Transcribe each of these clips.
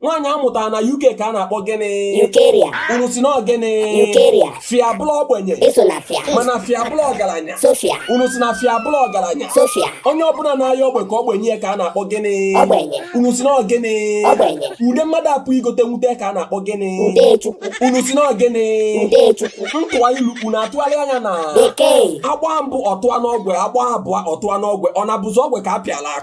nwaanyị amụtara na UK ka a na-akpọ gịnị Yukeria unu sị na ọ gịnị Yukeria fia bụlụ ogbenye esona fia mana fia bụlụ ọgaranya Sofia unu sị na fia bụlụ ọgaranya Sofia onye ọbụla na-ayọ ogbe ka ogbe nye ya ka a na-akpọ gịnị ogbenye unu sị na ọ gịnị ogbenye ude mmadụ apụ igote nwute ka a na-akpọ gịnị Udechukwu unu sị na ọ gịnị Udechukwu ntụwa ilu unu atụgharịa nya na Bekee agbaa mbụ ọ tụa n'ogwe agbaa abụọ ọ tụa n'ogwe ọ na-abụzi ogwe ka a pịalụ akụ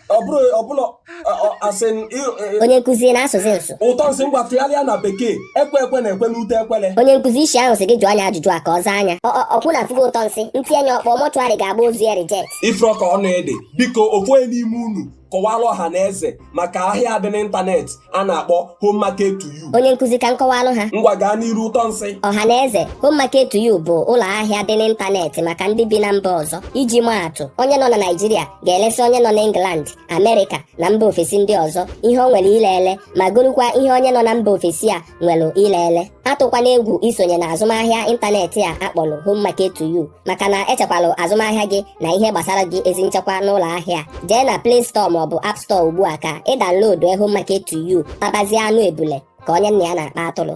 onye nkụzi na-asụzi nsụ ụtọ nsị ngwa tụgharịa na bekee ekwe ekwe na-ekwe n'ute ekwele onye nkụzi isi ahụ sị gị jụọ nya ajụjụ a ka ọ zaa nya ọkwa unu afụgo ụtọ nsị ntie nya ọkpọ mortuary ga-agba ozu ya reject ị fụrọ ka ọ na-adị biko ofu onye n'ime unu kọwara ọha na eze maka ahịa dị n'ịntanetị a na-akpọ home market to you onye nkụzi ka nkọwalụ ha ngwa gaa n'iru ụtọ nsị ọha na eze home market to you bụ ụlọ ahịa dị n'ịntanetị maka ndị bi na mba ọzọ iji maa atụ onye nọ na naijiria ga-elesi onye nọ n'england amerịka na mba ofesi ndị ọzọ ihe o nwere ile ele ma gorukwa ihe onye nọ na mba ofesi a nwere ile ele atụkwana egwu isonye na azụmahịa ịntanetị a akpọrọ home market to you maka na e chekwalụ azụmahịa gị na ihe gbasara gị ezi nchekwa n'ụlọ ahịa jee na Play Store maọbụ App Store ugbu a ka ị downloadie Home Market to You tabazie anụ ebule ka onye nna ya na-akpa atụrụ